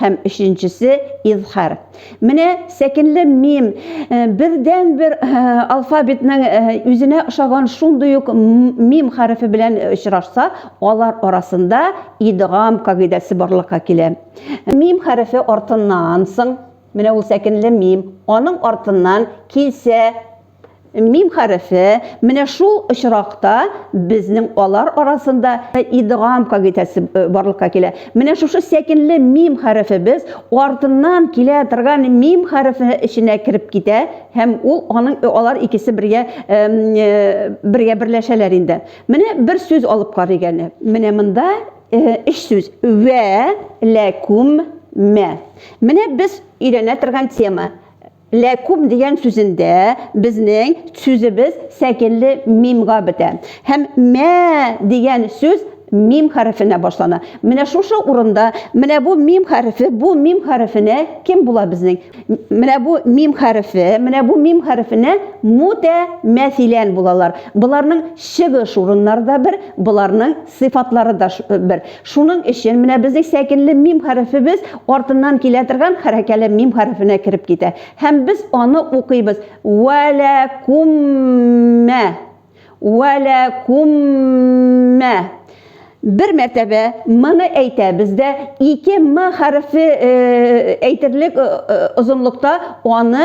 Һәм өченчесе, изхар. Менә сәкенле мим, э, бердән бер э, алфавитның э, үзенә ошаган шундый ук мим хәрефе белән очрашса, алар арасында идгам кагыйдәсе барлыкка килә. Мим хәрефе артыннан соң, менә ул сәкенле мим, аның артыннан килсә, Мим хәрефе менә шул очракта безнең алар арасында идгам кагыйдәсе э, барлыкка килә. Менә шушы сәкенле мим хәрефе без артыннан килә торган мим хәрефе эченә кереп китә һәм ул аның э, алар икесе бергә э, бергә берләшәләр инде. Менә бер сүз алып карыйк әле. Менә монда өч сүз. Вә ләкүм мә. Менә без өйрәнә торган тема. Ләкум дигән сүзендә безнең сүзебез сәкенле мимга бетә. Һәм мә дигән сүз мим хәрефенә башлана. Менә шушы урында, менә бу мим хәрефе, бу мим хәрефенә кем була безнең? Менә бу мим хәрефе, менә бу мим хәрефенә мутәмәсилән булалар. Боларның чыгыш урыннары да бер, боларның Сыйфатлары да бер. Шуның өчен менә безнең сәкенле мим хәрефебез артыннан килә торган хәрәкәле мим хәрефенә кереп китә. Һәм без аны укыйбыз. Вәләкуммә. Вәләкуммә. Бер мәртәбә м-ны әйтәбез дә, ике м хәрефе әйтерлек озынлыкта аны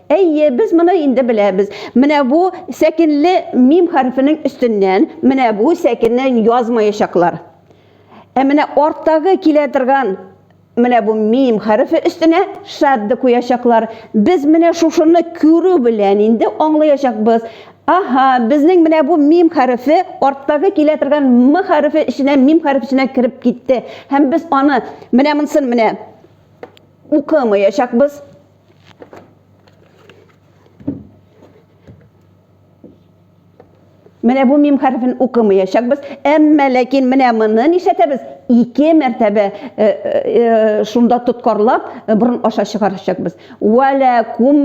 Әйе, без моны инде беләбез. Менә бу сәкенле мим хәрефенең өстеннән менә бу сәкенне язмаячаклар. Ә менә арттагы килә торган менә бу мим хәрефе өстенә шадды куячаклар. Без менә шушыны күрү белән инде аңлаячакбыз. Аһа, безнең менә бу мим хәрефе арттагы килә торган м хәрефе эченә мим хәреф эченә кереп китте. Һәм без аны менә монсын менә укымаячакбыз. Менә бу мим хәрефен укымаячакбыз. Әмма ләкин менә моны нишләтәбез? Ике мәртәбә э, э, э, шунда тоткарлап борын аша чыгарачакбыз. Валакум.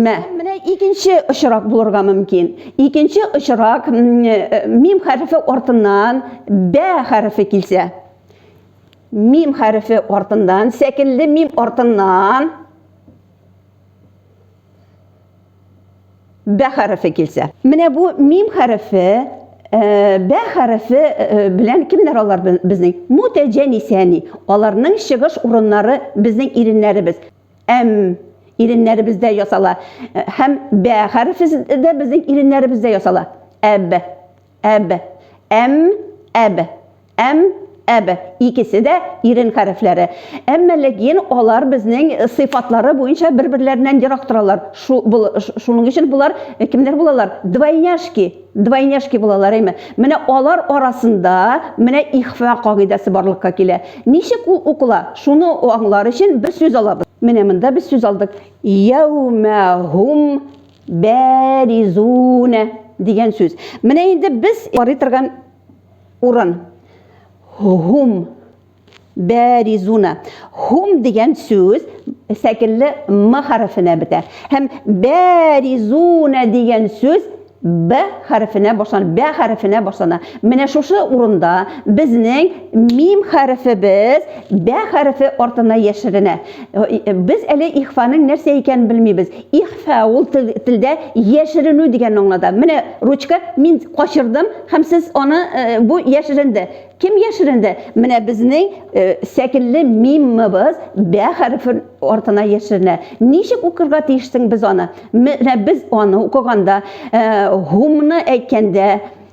Менә икенче очрак булырга мөмкин. Икенче очрак мим хәрефе артыннан бә хәрефе килсә. Мим хәрефе артыннан, сәкелле мим артыннан бә хәрефе килсә. Менә бу мим хәрефе, э, бә хәрефе э, белән кемнәр алар безнең? Мутәҗәнисәни. Аларның чыгыш урыннары безнең иреннәребез. Әм иреннәребездә ясала. Э, һәм бә хәрефе дә безнең иреннәребездә ясала. Әб Әб. Әм, әб. Әм, әб. Икесе дә ирен хәрефләре. Әмма ләкин алар безнең сыйфатлары буенча бер-берләреннән ерак торалар. Шу, бул, шуның өчен болар кемнәр булалар? Двойняшки. Двойняшки булалар, әйме? Менә алар арасында менә ихфа кагыйдәсе барлыкка килә. Ничек ул укыла? Шуны аңлар өчен бер сүз алабыз. Менә монда без сүз алдык. Яумә һум Бәризуна дигән сүз. Менә инде без карый торган урын. Хум. Бәризуна. Хум дигән сүз сәкенле м хәрефенә бетә. Һәм бәризуна дигән сүз б хәрефенә башлана, б хәрефенә башлана. Менә шушы урында безнең мим хәрефебез б хәрефе артына яшеренә. Без әле ихфаның нәрсә икәнен белмибез. Ихфа ул телдә яшеренү дигән аңлада. Менә ручка мин качырдым һәм сез аны э, бу яшеренде. Кем яшеренде? Менә безнең э, сәкенле миммыбыз бә хәрефе артына яшеренә. Ничек укырга тиешсең без аны? Менә без аны укыганда, э, хумны әйткәндә,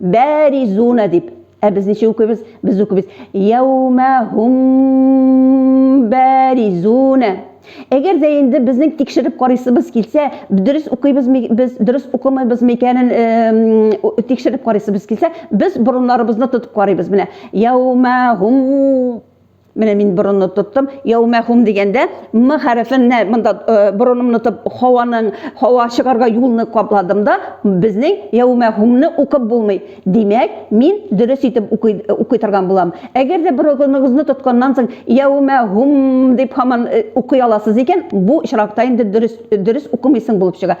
бәризуна дип. Ә без ничек укыйбыз? Без укыйбыз. Яумахум бәризуна. Әгәр дә инде безнең тикшереп карыйсыбыз килсә, дөрес укыйбыз без, дөрес укымыйбыз микәнен тикшереп карыйсыбыз килсә, без борыннарыбызны тотып карыйбыз. Менә яумахум Менә мин борынны тоттым. Яумәхум дигәндә м хәрефен нә монда э, борынымны тып һаваның һава чыгарга юлны капладым да, безнең яумәхумны укып булмый. Димәк, мин дөрес итеп укый э, укый торган булам. Әгәр дә борыныгызны тотканнан соң яумәхум дип һаман э, укый аласыз икән, бу очракта инде дөрес дөрес укымыйсың булып чыга.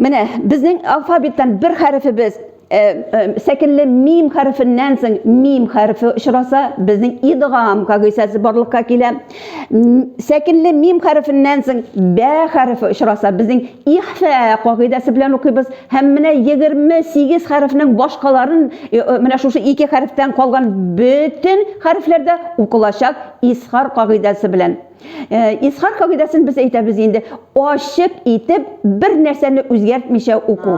Менә безнең алфавиттан бер хәрефебез сәкелле мим хәрефеннән соң мим хәрефе очраса, безнең идгам кагыйсәсе барлыкка килә. Сәкелле мим хәрефеннән соң бә хәрефе очраса, безнең ихфә кагыйдәсе белән укыйбыз. Һәм менә 28 хәрефнең башкаларын менә шушы ике хәрефтән калган бөтен хәрефләрдә укылачак исхар кагыйдәсе белән. Э, Исхак кагыйдәсен без әйтәбез инде, ачык итеп бер нәрсәне үзгәртмичә уку.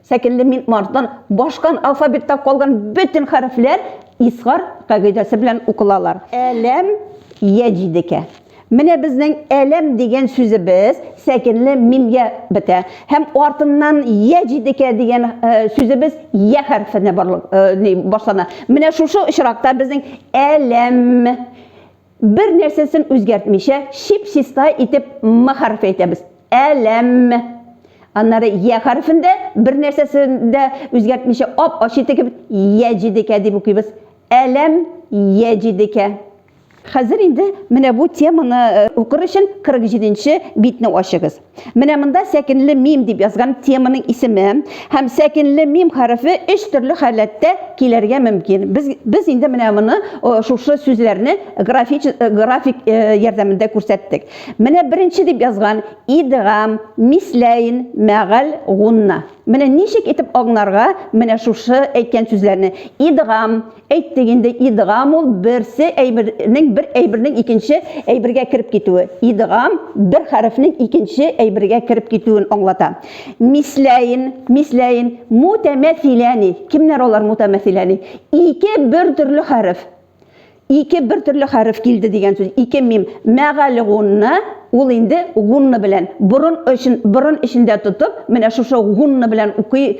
Сәкенле мин мартан башкан алфавитта калган бөтен хәрефләр Исхар кагыйдәсе белән укылалар. Әләм яҗидекә. Менә безнең әләм дигән сүзебез сәкенле мимгә бетә. Һәм артыннан яҗидекә дигән э, сүзебез я хәрефенә э, башлана. Менә шушы очракта безнең әләм Бер нәрсәсен үзгәртмичә, чип-чиста итеп м хәрефе әйтәбез. Әләм. Аннары я хәрефен дә бер нәрсәсен дә үзгәртмичә ап-ачы итеп кебек яҗидекә дип укыйбыз. Әләм яҗидекә. Хәзер инде менә бу теманы укыр өчен 47 нче битне ачыгыз. Менә монда сәкенле мим дип язган теманың исеме һәм сәкенле мим хәрефе өч төрле халәттә килергә мөмкин. Без без инде менә моны шушы сүзләрне график график ярдәмендә күрсәттек. Менә беренче дип язган идгам, мисләйн, мәгал, гунна. Менә ничек итеп аңларга менә шушы әйткән сүзләрне. Идгам, Әйттек инде, идгам ул берсе әйбернең бер әйбернең икенче әйбергә кереп китүе. Идгам бер хәрефнең икенче әйбергә кереп китүен аңлата. Мисләйн, мисләйн, мутәмәсиләни. Кемнәр алар мутәмәсиләни? Ике бер төрле хәреф. Ике бер төрле хәреф килде дигән сүз. Ике мим. Мәгәл гунна, ул инде гунна белән. Борын өчен, борын эчендә тотып, менә шушы гунна белән укый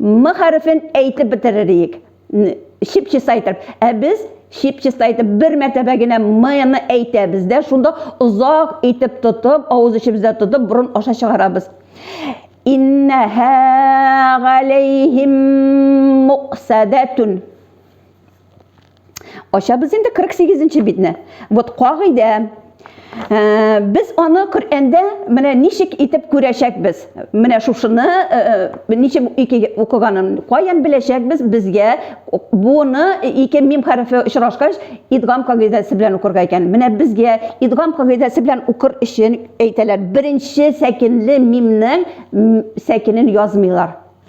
М хәрефен әйтеп бетерер идек. Чип-чис әйтеп. Ә без чип-чис әйтеп бер мәртәбә генә М-ны әйтәбез дә, шунда озак итеп тотып, авыз эчебездә тотып, борын аша чыгарабыз. Иннәһә галәйһим муксадатун. Ачабыз инде 48 нче битне. Вот кагыйдә. Ә, без аны Коръәндә менә ничек итеп күрәчәкбез? Менә шушыны ә, ә, ничек ике укыганын каян беләчәкбез? Безгә буны ике мим хәрефе очрашкач, идгам кагыйдәсе белән укырга икән. Менә безгә идгам кагыйдәсе белән укыр өчен әйтәләр, беренче сәкенле мимнең сәкенен язмыйлар.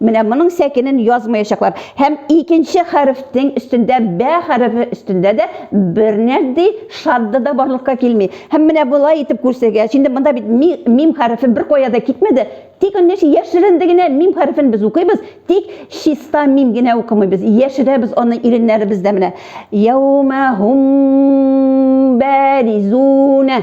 Менә моның сәкенен язмаячаклар. Һәм икенче хәрефнең өстендә, бә хәрефе өстендә дә бернәрди шадда да барлыкка килми. Һәм менә болай итеп күрсәгәч, инде монда бит ми, мим хәрефе беркая да китмәде. Тик аны яшь, яшеренде генә мим хәрефен без укыйбыз, тик чиста мим генә укымыйбыз, яшерәбез аны иреннәребездә менә. Яумәһум бәризүнә.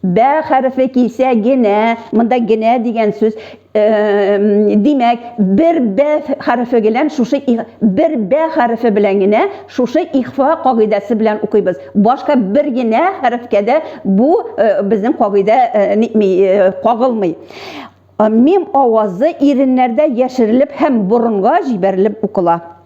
Бә хәрефе килсә генә, монда генә дигән сүз, димәк, бер бә хәрефе белән шушы бер бә хәрефе белән генә шушы ихфа кагыйдәсе белән укыйбыз. Башка бер генә хәрефкә дә бу безнең кагыйдә нитми, кагылмый. Мим авазы иреннәрдә яшерелеп һәм борынга җибәрелеп укыла.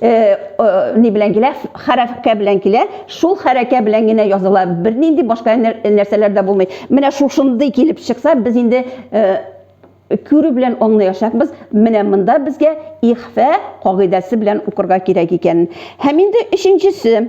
Э, э, ни белән килә хәрәкә белән килә шул хәрәкә белән генә языла бернинди башка нәрсәләр дә булмый менә шушындый килеп чыкса без инде э, күрү белән аңлаячакбыз менә монда безгә ихфә кагыйдәсе белән укырга кирәк икәнен һәм инде өченчесе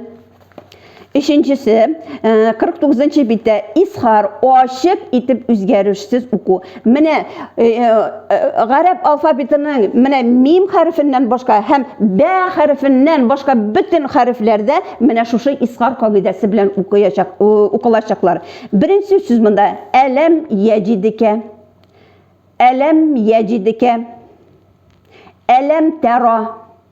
Өченчесе, 49 э, нчы биттә исхар, ачык итеп үзгәрешсез уку. Менә э, э, гарәп алфавитының менә мим хәрефеннән башка һәм бә хәрефеннән башка бөтен хәрефләрдә менә шушы исхар кагыйдәсе белән укыячак, укылачаклар. Беренче сүз монда әләм яҗидикә. Әләм яҗидикә. Әләм тәра.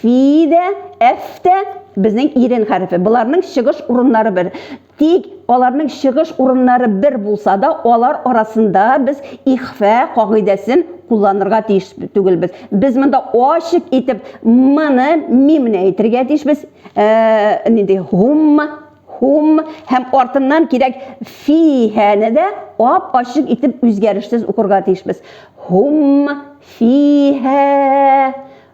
фи дә, әф тә безнең ирен хәрефе. Боларның чыгыш урыннары бер. Тик аларның чыгыш урыннары бер булса да, алар арасында без ихфә кагыйдәсен кулланырга тиеш түгелбез. Без монда ачык итеп мны мимне әйтергә тиешбез. Э, нинди хумма хум һәм артыннан кирәк фиһәне дә ап ачык итеп үзгәрешсез укырга тиешбез. Хум фиһә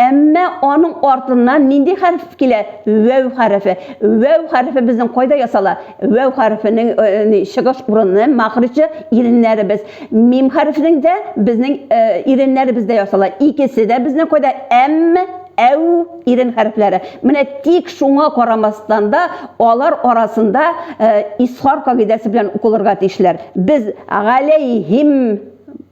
Әмма аның артыннан нинди хәреф килә? Вәү хәрефе. Вәү хәрефе безнең кайда ясала? Вәү хәрефенең чыгыш урыны, мәхричы, иреннәребез. Мим хәрефенең дә безнең иреннәребездә ясала. Икесе дә безнең кайда? Әм, әү ирен хәрефләре. Менә тик шуңа карамастан да, алар арасында исхар кагыйдәсе белән укылырга тиешләр. Без галәйһим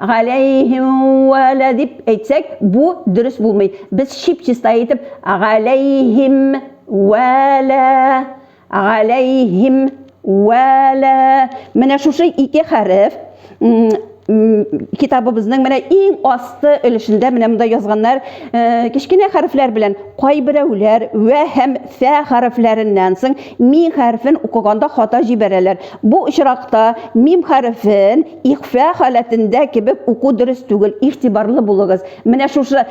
Галәйһим вәлә дип әйтсәк, бу дөрес булмый. Без чип-чиста итеп галәйһим вәлә, галәйһим вәлә. Менә шушы ике хәреф китабыбызның менә иң асты өлешендә менә монда язганнар кечкенә хәрефләр белән кайберәүләр вә һәм фә хәрефләреннән соң мим хәрефен укыганда хата җибәрәләр. Бу очракта мим хәрефен Ихфа халәтендә кебек уку дөрес түгел, игътибарлы булыгыз. Менә шушы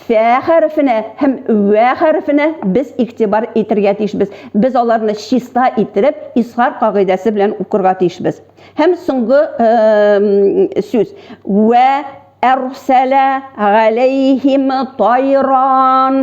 фә хәрефенә һәм вә хәрефенә без игътибар итергә тиешбез. Без аларны чиста иттереп, изһар кагыйдәсе белән укырга тиешбез. Һәм соңгы сүз. Вә әрсәлә галәйһим тайран.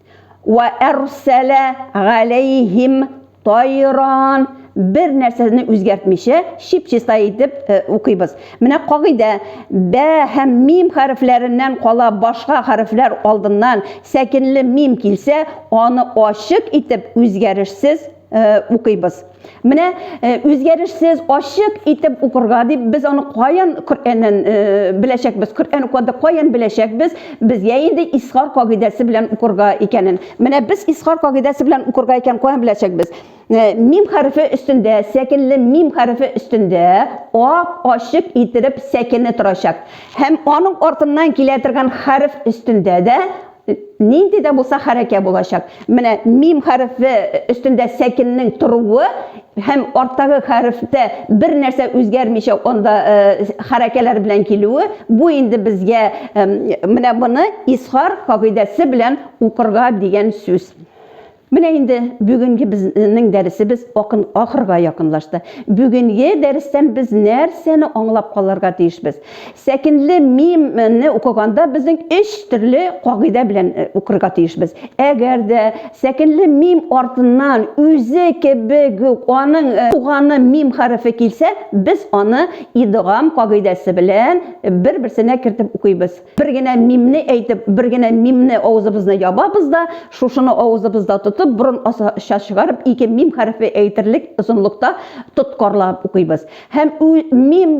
Вә әрсәлә галәйһим тайран бер нәрсәне үзгәртмичә, чип-чиста итеп э, укыйбыз. Менә кагыйдә, бә һәм мим хәрефләреннән кала башка хәрефләр алдыннан сәкенле мим килсә, аны ачык итеп үзгәрешсез Э, укыйбыз. Менә э, үзгәрешсез, ачык итеп укырга дип без аны каян Коръәннән э, беләчәкбез? Коръән укыганда каян беләчәкбез? Безгә инде исхар кагыйдәсе белән укырга икәнен. Менә без исхар кагыйдәсе белән укырга икән каян беләчәкбез? Мим хәрефе өстендә, сәкенле мим хәрефе өстендә ак ачык иттереп сәкене торачак. Һәм аның артыннан килә торган хәреф өстендә дә Нинди дә булса хәрәкә булачак. Менә мим хәрефе өстендә сәкеннең торуы һәм арттагы хәрефтә бер нәрсә үзгәрмичә анда хәрәкәләр белән килүе, бу инде безгә менә моны исхар кагыйдәсе белән укырга дигән сүз. Менә инде бүгенге безнең дәресебез акын ахырга якынлашты. Бүгенге дәрестән без нәрсәне аңлап калырга тиешбез? Сәкенле мим не укыганда безнең өч төрле кагыйдә белән укырга тиешбез. Әгәр дә сәкенле мим артыннан үзе кебек үк аның туганы мим хәрефе килсә, без аны идгам кагыйдәсе белән бер-берсенә кертеп укыйбыз. Бер генә мимне әйтеп, бер генә мимне авызыбызны ябабыз да, шушыны авызыбызда тотып, борын аша чыгарып, ике мим хәрефе әйтерлек озынлыкта тоткарлап укыйбыз. Һәм мим,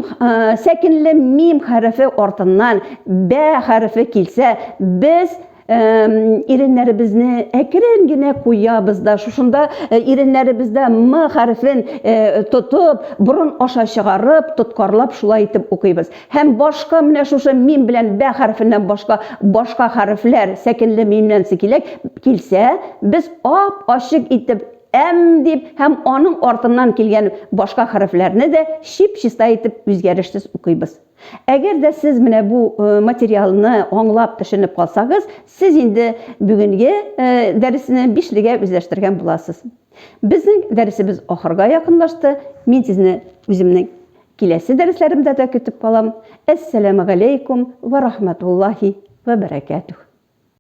сәкенле мим хәрефе артыннан бә хәрефе килсә, без иреннәребезне әкрен генә куябыз да шушында иреннәребездә м хәрефен тотып борын аша чыгарып тоткарлап шулай итеп укыйбыз һәм башка менә шушы мим белән бә хәрефеннән башка башка хәрефләр сәкенле мимнән сикиләк килсә без ап ачык итеп әм дип һәм аның артыннан килгән башка хәрефләрне дә чип чиста итеп үзгәрешсез укыйбыз Әгәр дә сез менә бу материалны аңлап, төшенеп калсагыз, сез инде бүгенге дәресне бишлегә үзләштергән буласыз. Безнең дәресебез ахырга якынлашты. Мин сезне үземнең киләсе дәресләремдә дә көтеп калам. Әссәламегаләйкүм вә рахмәтуллаһи вә бәрәкәтүһ.